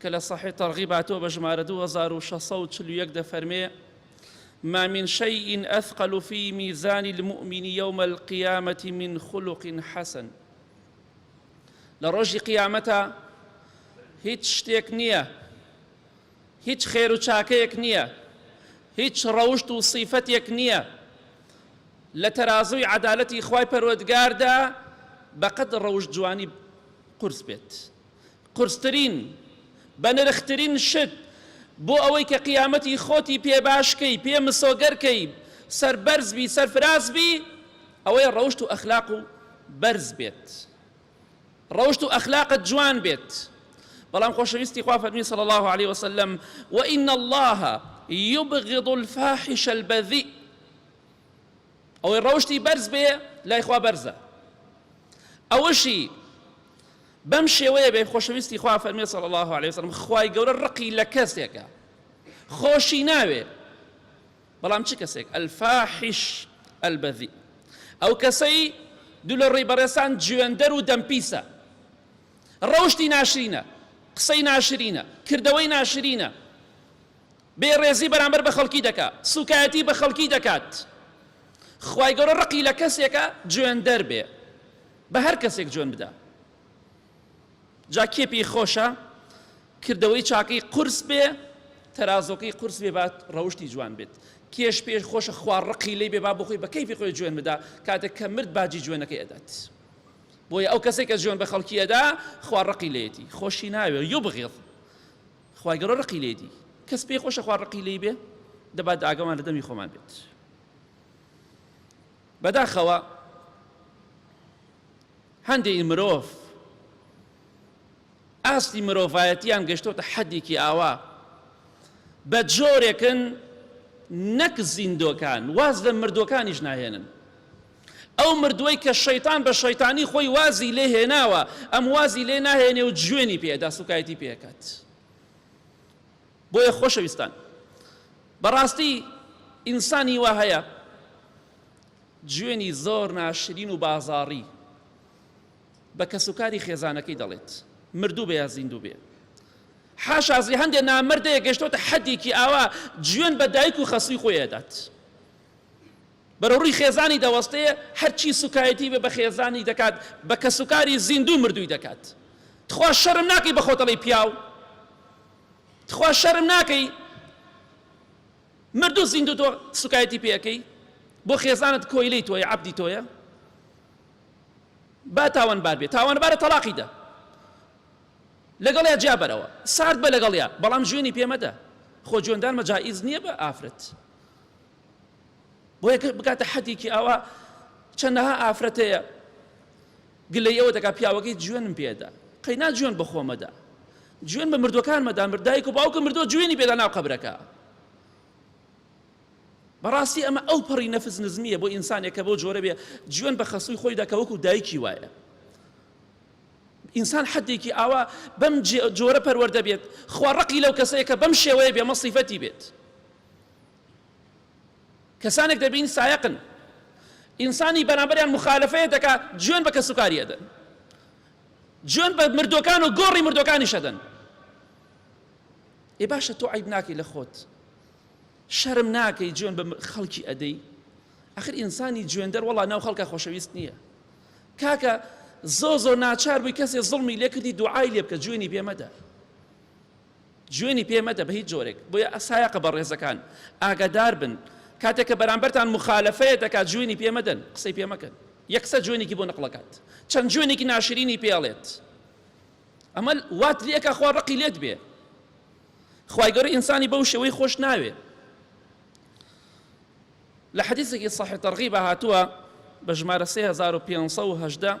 کە لە صحیح ترغیب هاتووە بە ژمارە دوو هەزار و شەش سەد و چل و یەک دەفەرمێ ما من شيء أثقل في ميزان المؤمن يوم القيامة من خلق حسن لە ڕۆژی قیامەتە هیچ شتێک نییە هیچ خێر و چاکەیەک نییە هیچ ڕەوشت و صیفەتێک نییە لە تەرازووی عەدالەتی خوای پەروەردگاردا بەقەد ڕەوشت جوانی قورس بێت قورسترین، بەنرخترین شت بۆ ئەوەی کە قیامەتی خۆتی پێ باش کەی، پێ مسۆگەر کەی، سەربەرز بی، سەرفراز بی، ئەوەیە ڕەوشت و ئەخلاق و بەرز بێت، ڕەوشت و ئەخلاقت جوان بێت. بەڵام خۆشەویستی خوا فەرمی صلی اللە علیە وسلم، وان اللە یبغض الفاحش البذیء، ئەوەی ڕەوشتی بەرز بێ لای خوا بەرزە ئەوەشی بەم شێوەیە بێ خۆشەویستی خوا فەرمێ صلی الله عليه وسلم خوای گەورە ڕقی لە کەسێکە خۆشی ناوێ بەڵام چ کەسێک الفاحش البذی ئەو کەسەی دوو لە ڕێی بەڕێسان جوێندەر و دەمپیسە ڕەوشی ناشرینە قسەی ناشرینە کردەوەی ناشرینە بێ ڕێزی بەرامبەر بە خەڵکی دەکا سوکایەتی بە خەڵکی دەکات خوای گەورە ڕقی لە کەسێکە جوێن دەر بێ بە هەر کەسێک جوێن بدا جا کێ پێی خۆشە کردەوەی چاکەی قورس بێ تەرازۆکەی قورس بێ بات ڕەوشی جوان بێت کێش پێش خۆشە خوار ڕقی لی بێ با بخۆی بە کەیفی خۆی جوێن بدا کاتێک کە مرد باجی جوێنەکەی ئەدات بۆیە ئەو کەسێک کە جوێن بە خەڵکی ئەدا خوار ڕقی لێتی خۆشی ناوێ یو بغێڵ خوای گەورە ڕقی لێدی کەس پێی خۆشە خوا ڕقی لێی بێ دەبا داگەمان لە دەمی خۆمان بێت بەداخەوە هەندێکی مرۆڤ ئاستی مرۆڤایەتیان گەشتۆتە حەدێکی ئاوا بە جۆرێکن نەک زیندۆکان واز لە مردوەکانیش ناهێنن ئەو مردووەی کە شەیتان بە شەیتانی خۆی وازی لێ هێناوە ئەم وازی لێ ناهێنێ و جوێنی پێ ئەدا سوکایەتی پێ ئەکات بۆیە خۆشەویستان بەڕاستی ئینسانی وا هەیە جوێنی زۆر ناشرین و بازاڕی بە کەسوکاری خێزانەکەی دەڵێت مردوو بێ یا زیندوو بێ حاشازی هەندێک نامردەیە گەشتۆتە حەدێکی ئاوا جوێن بە دایک و خەسوی خۆی ئەدات بەرەو ڕووی خێزانی دەوەستێ، هەرچی سوکایەتی بە بەخێزانی دەکات بە کەسوکاری زیندوو مردووی دەکات. تخوا شەرم ناکەی بە خۆت ئەڵێی پیاو؟ تخوا شەرم ناکەی مردوو زیندوو تۆ سوکایەتی پێ ئەکەی؟ بۆ خێزانت کۆیلەی تۆیە، عەبدی تۆیە؟ با تاوانبار بێ، تاوانبارە تەڵاقی دە، لەگەڵیا جیا بەرەوە، سارد بە لەگەڵیا، بەڵام جوێنی پێ مەدە، خۆ جوێندانمە جائیز نییە بە ئافرەت. بۆیە کە بگاتە حەدێکی ئاوا چەندەها ئافرەت هەیە گلەی ئەوە دەکات پیاوەکەی جوێنم پێدا قەینا جوێن بە خۆمەدا جوێن بە مردوەکانمەدا مردایک و باوکە مردووە جوێنی پێدا ناو قەبرەکە بەڕاستی ئەمە ئەو پەڕی نەفس نزمیە بۆ ئینسانێک کە بۆ جۆرە بێ جوێن بە خەسووی خۆی دەکە وەکو دایکی وایە ئینسان حدێکی ئاوا بەم جۆرە پەروەەردە بێت خوا ڕقی لەو کەسەیە کە بەم شێوەیە بێ مەصیفەتی بێت کەسانێک دەبین سایەقن ئینسانی بەرامبەریان مخالفەیە دەکا جوێن بە کەسوکاری ئەدەن جوێن بە مردوەکان و گۆڕی مردوەکانیش ئەدەن ئێ باشە تۆ عیب ناکەی لە خۆت شەرم ناکەی جوێن بە خەڵکی ئەدەی ئەخر ئینسانی جوێندەر وڵا ناو خەڵکە خۆشەویست نییە کاکە زۆ زۆ ناچار بووی کەسێ زڵمی لێکردی دوعای لێ بکە جوێنی پێمەدە جوێنی پێ مەدە بە هیچ جۆرێک، بۆیە سایەقە بەڕێزەکان ئاگادار بن کاتێک کە بەرامبەرتان موخالەفەیە دەکات جوێنی پێ مەدەن قسەی پێ مەکەن یەک قسە جوێنێکی بۆ نەقڵ ئەکات چەند جوێنێکی ناشرینی پێ ئەڵێت ئەمە وات لێ ئەکا خوا ڕقی لێت بێ خوای گەورە ئینسانی بەو شێوەی خۆش ناوێ لە حەدیثێکی صحیح تەرغیب هاتووە بە ژمارە 3518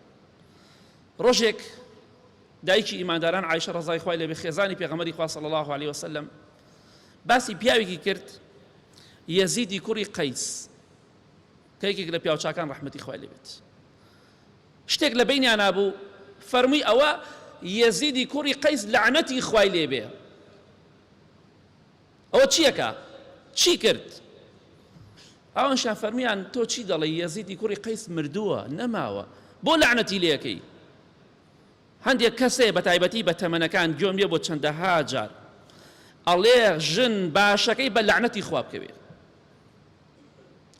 ڕۆژێک دایکی ئیمانداران عیشە ڕزای خوای لەبێ خێزانی پێغەمەری خوا صلی الله عليه وسلم باسی پیاوێکی کرد یەزیدی کوڕی قەیس کە یەکێک لە پیاوچکان ڕحمەتی خوای لێبێت شتێک لە بینیان نبوو فەرمووی ئەوە یەزیدی کوڕی قەیس لەعنەتی خوای لێبێ ئەوە چیەکا چی کرد. ئەوانشیان فەرموویان تۆ چی دەڵێی یەزیدی کوڕی قەیس مردووە نەماوە بۆ لەعنەتی لێکەی هەندێک کەسێ بە تایبەتی بە تەمەنەکان گوێم لێ بۆ چەندەها جار ئەڵێ ژن باشەکەی بە لەعنەتی خوا بکەوێ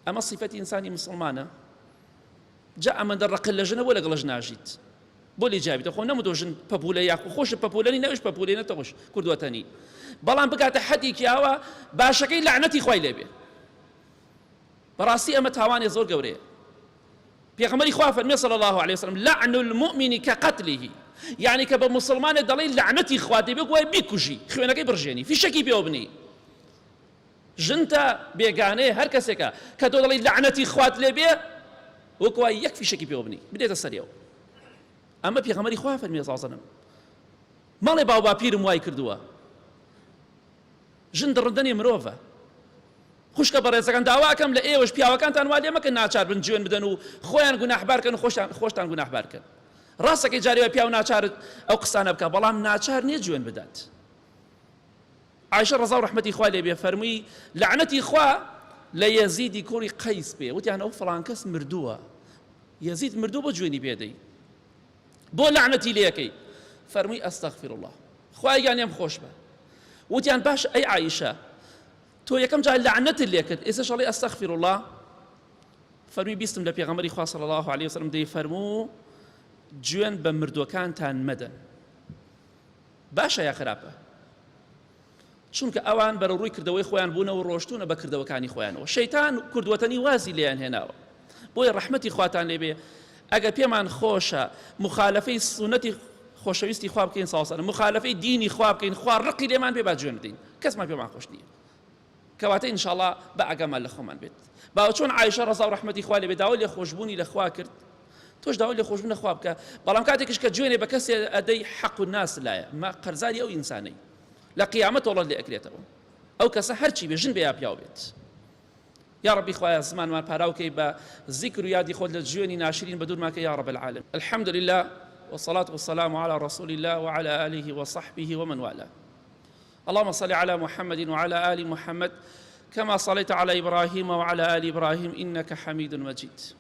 ئەمە سیفەتی ئینسانی مسڵمانە جا ئەمەندە ڕەقت لە ژنە بۆ لەگەڵش ناژیت بۆ لێی جیابیتە خۆ نەمدۆ ژن پەپولە یاخو خۆش پەپولەنی نەوش پەپولێ نەتەوەش کردوەتەنی بەڵام بگاتە حەدێکی ئاوا باشەکەی لەعنەتی خوای لێبێ بەڕاستی ئەمە تاوانێ زۆر گەورەیە پێغەمەری خوا فەرمی صلی الله علیه وسلم لعن المؤمن كقتله یعنی کە بە مسلمانێ دەڵی لەعنەتی خوا دەبێ گوای بیکوژی خوێنەکەی بڕژێنی فیشەکی پێوە بنی ژنتە بێگانەیە هەر کەسێکە کە تۆ دەڵێی لەعنەتی خوات لێ بێ وەک وای یەک فیشەکی پێوە بنی بدێتە سەریەوە ئەمە پێغەمەری خوا فەرمی زازنم مەڵێ باو باپیرم وای کردووە ژن دڕندەنێ مرۆڤە خوشکە بەڕێزەکان داواکەم لە ئێوەش پیاوەکانتان وا لێ مەکەن ناچار بن جوێن بدەن و خۆیان گوناحبارکەن و خۆشتان خۆشتان گوناحبارکەن ڕاستەکەی جارێوە پیاو ناچارت ئەو قسانە بکە بەڵام ناچار نییە جوێن بدات عائشە ڕەزا و ڕەحمەتی خوا لێ بێ فەرمووی، لەعنەتی خوا لە یەزیدی کوڕی قەیس بێ، وتیان ئەو فڵان کەس مردووە، یەزید مردووە بۆ جوێنی پێ دەی؟ بۆ لەعنەتی لێ ئەکەی؟ فەرمووی، استغفراللە، خوایە گیان لێم خۆش بە. وتیان، باشە ئەی عائشە تۆ یەکەم جار لەعنەتت لێ کرد ئێستاش ئەڵێی استغفراللە؟ فەرمووی، بیستم لە پێغەمبەری خوا صلی اللە علیە وسلم دەیفەرموو، جوێن بە مردووەکانتان مەدەن. باشە یا خراپە؟ چونکە ئەوان بەرەو ڕووی کردەوەی خۆیان بوونەوە ڕۆشتونە بە کردەوەکانی خۆیانەوە شەیتان کوردوەتەنی وازی لێیان هێناوە بۆیە ڕەحمەتی خواتان لێبێ ئەگەر پێمان خۆشە مخالفەی سونەتی خۆشەویستی خوا بکەین ساوسەر مخالفەی دینی خوا بکەین خوا ڕقی لێمان بێ با جوێن بدەین کەسمان پێمان خۆش نییە کەواتە ان شاءاللە با ئاگامان لە خۆمان بێت با چۆن عائشە ڕەزا و ڕەحمەتی خوا لێ بێت داوای لێخۆشبوونی لە خوا کرد تۆش داوای لێخۆشبوون لە خوا بکە بەڵام کاتێکش کە جوێنێ بە کەسێ ئەدەی حەق و ناس لایە ما قەرزاری ئەو ئینسانەی لە قیامەت تۆڵەت لێ ئەکرێتەوە ئەو کەسە هەرچی بێ ژن بێ یا پیاو بێت یا ربی خوایە زمانمان پاراوکەی بە زیکر و یادی خۆت لە جوێنی ناشرین بە دوورماکە یا رب العالم الحمد لله والصلاة والسلام على رسول الله وعلى آله وصحبه ومن والاه اللهم صل علی محمد وعلی آل محمد کما صلیت علی ابراهیم وعلی آل ابراهیم انک حمید مجید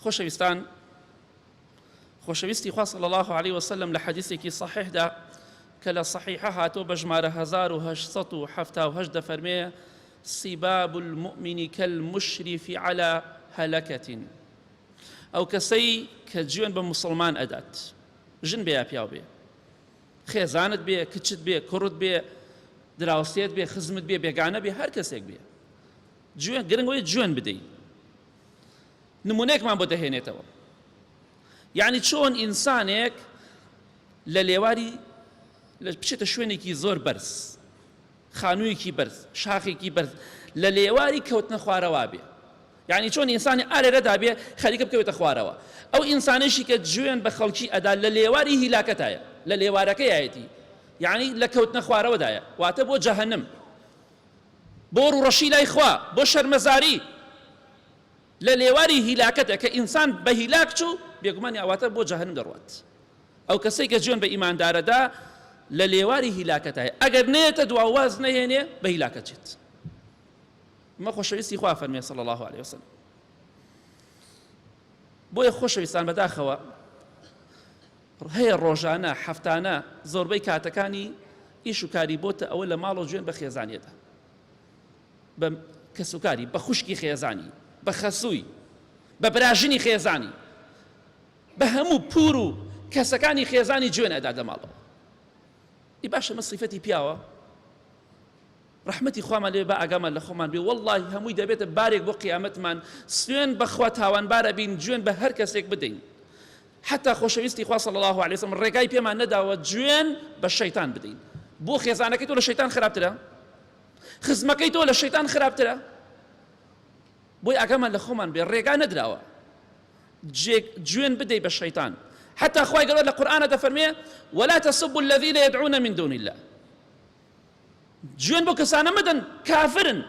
خۆشەویستان خۆشەویستی خوا صلی الله علیه وسلم لە حەدیثێکی صحیحدا کە لە صحیحە هاتۆ بە ژمارە 1878 دەفەرمێ سیباب المؤمن كالمشرف على هلكة ئەو کەسەی کە جوێن بە مسلمان ئەدات ژن بێ یا پیاو بێ خێزانت بێ، کچت بێ، کوڕت بێ، دراوسێت بێ، خزمت بێ، بێگانە بێ، هەر کەسێک بێ. جوێن، گرنگ ئەوەیە جوێن بدەیت. نموونەیەکمان بۆ دەهێنێتەوە. یانی چۆن ئینسانێک لە لێواری بچێتە شوێنێکی زۆر بەرز، خانوویەکی بەرز، شاخێکی بەرز، لە لێواری کەوتنە خوارەوا بێ. یانی چۆن ئینسانی ئالێرەدا بێ خەریکە بکەوێتە خوارەوە ئەو ئینسانەیشی کە جوێن بە خەڵکی ئەدا لە لێواری هیلاکەتایە لە لێوارەکەیایەتی یانی لە کەوتنە خوارەوەدایە واتە بۆ جەهەنم بۆ ڕوڕەشی لای خوا بۆ شەرمەزاری لە لێواری هیلاکەتە کە ئینسان بە هیلاک چوو بێگومانی ئاواتە بۆ جەهەنم دەڕوات ئەو کەسێک کە جوێن بە ئیماندارەدا لە لێواری هیلاکەتایە ئەگەر نێتە دواواز نەهێنێ بە هیلاکەچێت ئمە خۆشەویستی خوا فەرمێ صلی الله عليه وسلم بۆیە خۆشەویستان بەداخەوە هەیە ڕۆژانە هەفتانە زۆربەی کاتەکانی ئیش و کاری بۆتە ئەوە لە ماڵ و جوێن بە خێزانیەدا بە کەسوکاری بە خوشکی خێزانی بە خەسووی بە براژنی خێزانی بە هەموو پور و کەسەکانی خێزانی جوێن ئەدا دەماڵەوە ئی باشە مە سیفەتی پیاوە ڕەحمەتی خوامان لێبێ با ئاگامان لە خۆمان بێ وەڵڵاهی هەمووی دەبێتە بارێک بۆ قیامەتمان سوێن بەخوا تاوانبار ئەبین جوێن بە هەر کەسێک بدەین حتا خۆشەویستی خوا صلی اللە علیە وسلم ڕێگای پێمان نەداوە جوێن بە شەیتان بدەین بۆ خێزانەکەی تۆ لە شەیتان خراپترە خزمەکەی تۆ لە شەیتان خراپترە بۆی ئاگامان لە خۆمان بێ ڕێگا نەدراوە جوێن بدەی بە شەیتان حتا خی گەڵۆ لە قورآانە دەفەرمێ ولا تسب الذين يدعون من دون الله جوێن بەو کەسانە مەدەن کافرن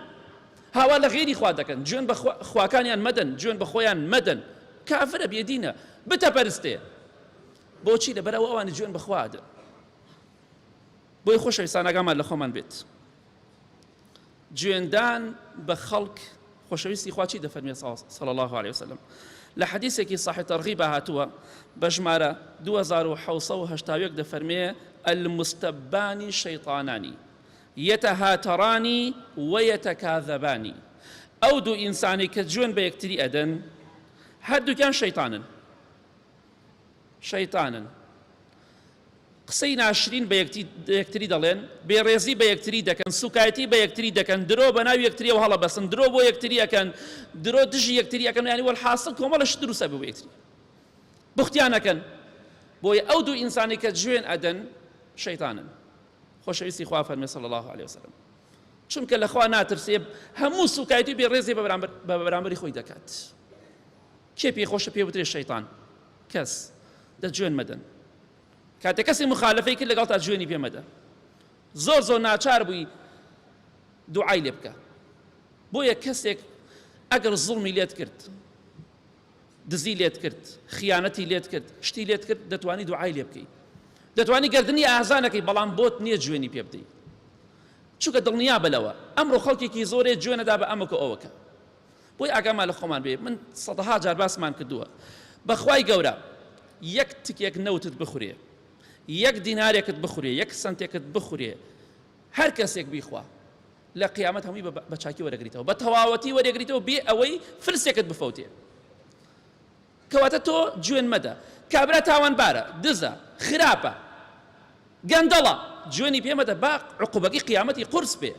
هاوار لە غەیری خوا دەکەن، جوێن بە خواکانیان مەدەن، جوێن بە خۆیان مەدەن، کافرە بێدینە بتەپەرستێ، بۆچی لەبەر ئەوە ئەوانی جوێن بە خوا ئەدەن. بۆیە خۆشەویستان ئاگامان لە خۆمان بێت. جوێندان بە خەڵک خۆشەویستی خوا چی دەفەرمێت صلی اللە علیە وسلم لە حەدیسێکی صحیح ترغیبا هاتووە بە ژمارە دوو هەزار و حەوت سەد و هەشتا و یەک دەفەرمێ المستبان شیطانان یتهاتران و یتکاذبان ئەو دوو ئینسانەی کە جوێن بە یەکتری ئەدەن هەردووکیان شەیتانن شەیتانن قسەی ناشرین بە یەکتری دەڵێن، بێڕێزی بە یەکتری دەکەن، سوکایەتی بە یەکتری دەکەن، درۆ بە ناو یەکتریەوە هەڵەبەستن، درۆ بۆ یەکتری ئەکەن، درۆ دژی یەکتری ئەکەن، یانی وەلحاسڵ کۆمەڵە شت دروست ئەبێ بۆ یەکتری بوختیان ئەکەن، بۆیە ئەو دوو ئینسانی کە جوێن ئەدەن شەیتانن. خۆشەویستی خوا فەرمێ صلی الله علیه وسلم چونکە لەخوا ناترسێ هەموو سوکایەتی بێڕێزی بە بەرامبەری خۆی دەکات. کێ پێی خۆشە پێ بوترێ شەیتان؟ کەس. دە جوێن مەدەن. کاتێ کەسێ مخالفەی کرد لەگەڵتا جوێنی پێ مەدە. زۆر زۆر ناچار بووی دوعای لێ بکە. بۆیە کەسێک ئەگەر زوڵمی لێت کرد، دزی لێت کرد، خیانەتی لێت کرد، شتی لێت کرد، دەتوانی دوعای لێ بکەی. دەتوانی گەردنی ئازانەکەی بەڵام بۆت نییە جوێنی پێ بدەی. چونکە دڵنیا بە لەوە ئەمڕۆ خەڵکێکی زۆرێ جوێنەدا بە ئەمەکە ئەوەکە. بۆی ئاگامان لە خۆمان بێ من سەدەها جار باسمان کردووە بەخوای گەورە یەک تکێک نەوتت بخورێ یەک دینارێکت بخورێ یەک سنتێکت بخورێ هەر کەسێک بیخوا لە قیامەت هەمووی بە چاکی وەرەگریتەوە بە تەواوەتی وەرەگریتەوە بێ ئەوەی فرسێکت بفەوتێ کەواتە تۆ جوێن مەدە کابرا تاوانبارە دزە خراپە گەندەڵە جوێنی پێمەدە با عقوبەکەی قیامەتی قورس بێ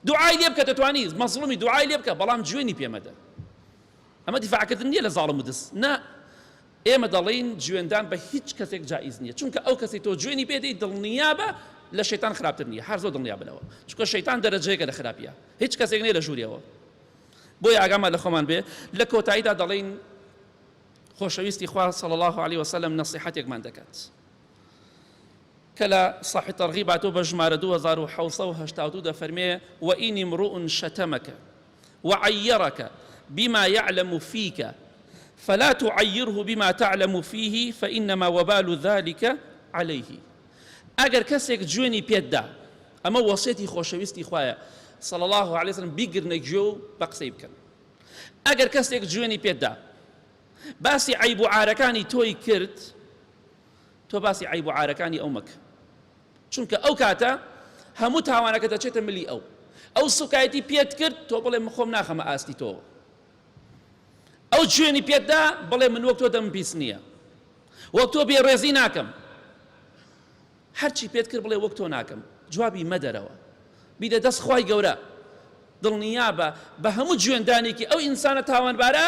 دوعای لێ بکە دەتوانی مەزڵومی دوعای لێ بکە بەڵام جوێنی پێ مەدە ئەمە دیفاع کردن نیە لە زاڵم و دز نا ئێمە دەڵێین جوێندان بە هیچ کەسێک جائیز نیە چونکە ئەو کەسەی تۆ جوێنی پێ دەی دڵنیابە لە شەیتان خراپتر نیە هەر زۆر دڵنیا بنەوە چونکە شەیتان دەرەجەیەکە لە خراپیە هیچ کەسێک نیە لە ژووریەوە بۆیە ئاگامان لە خۆمان بێ لە کۆتاییدا دەڵێین خۆشەویستی خوا صلی الله علیه وسلم نەسیحەتێکمان دەکات کە لە صحیح ترغیباتەوە بە ژمارە دوو هەزار و حەوت سەد و هەشتا و دوو دەفەرمێ، وان امرؤ شتمک وعیرک بما یعلم فیک فلا تعیره بما تعلم فیه فانما وبال ذلک علیه ئەگەر کەسێک جوێنی پێت دا، ئەمە وەسیەتی خۆشەویستی خوایە، صلی اللە علیە وسلم، بیگرنە گوێ و بە قسەی بکەن. ئەگەر کەسێک جوێنی پێت دا باسی عەیب و عارەکانی تۆی کرد، تۆ باسی عەیب و عارەکانی ئەو مەکە چونکە ئەو کاتە هەموو تاوانەکە دەچێتە ملی ئەو ئەو سوکایەتی پێت کرد تۆ بڵێ من خۆم ناخەمە ئاستی تۆوە ئەو جوێنی پێتدا بڵێ من وەک تۆ دەم پیس نییە وەک تۆ بێڕێزی ناکەم هەرچی پێت کرد بڵێ وەک تۆ ناکەم جوابی مەدەرەوە بیدە دەست خوای گەورە دڵنیابە بە هەموو جوێندانێکی ئەو ئینسانە تاوانبارە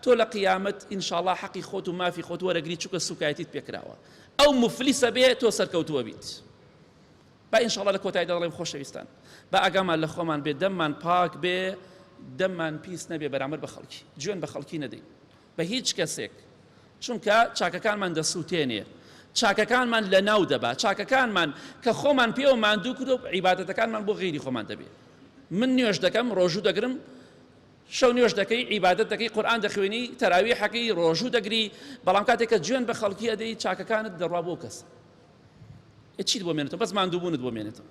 تۆ لە قیامەت ان شاءاللە حەقی خۆت و مافی خۆت وەرەگری چونکە سوکایەتیت پێکراوە ئەو موفلیسە بێ تۆ سەرکەوتووە بیت با ان شاءاللە لە کۆتایدا دەڵێم خۆشەویستان با ئاگامان لە خۆمان بێ دەممان پاک بێ دەممان پیس نەبێ بەرامبەر بە خەڵکی جوێن بە خەڵکی نەدەین بە هیچ کەسێک، چونکە چاکەکانمان دەسووتێنێ، چاکەکانمان لەناو دەبا، چاکەکانمان کە خۆمان پێوە ماندوو کردووە، عیبادەتەکانمان بۆ غەیری خۆمان دەبێ. من نوێژ دەکەم، ڕۆژوو دەگرم، شەو نوێژ دەکەی، عیبادەت دەکەی، قورئان دەخوێنی، تەراویحەکەی، ڕۆژوو دەگری، بەڵام کاتێک کە جوێن بە خەڵکی ئەدەی، چاکەکانت دەڕوا بۆ ئەو کەسە. ئێ چیت بۆ مێنێتەوە؟ بەس ماندووبوونت بۆ مێنێتەوە.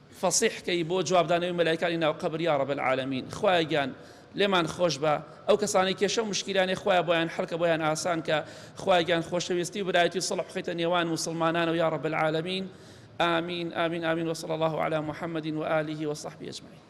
فەسیح کەی بۆ جواب دانەوەی مەلایکانی ناو قەبر یا رب العالمین خوایە گیان لێمان خۆشبە ئەو کەسانەی کێشەو مشکیلانێ خوایە بۆیان حەلکە بۆیان ئاسان کە خوایە گیان خۆشەویستی و برایەتی و سڵح بخەیتە نێوان موسڵمانانەوە یا رب العالمین آمین آمین آمین وصلی الله علی محمد و آله و صحبه اجمعین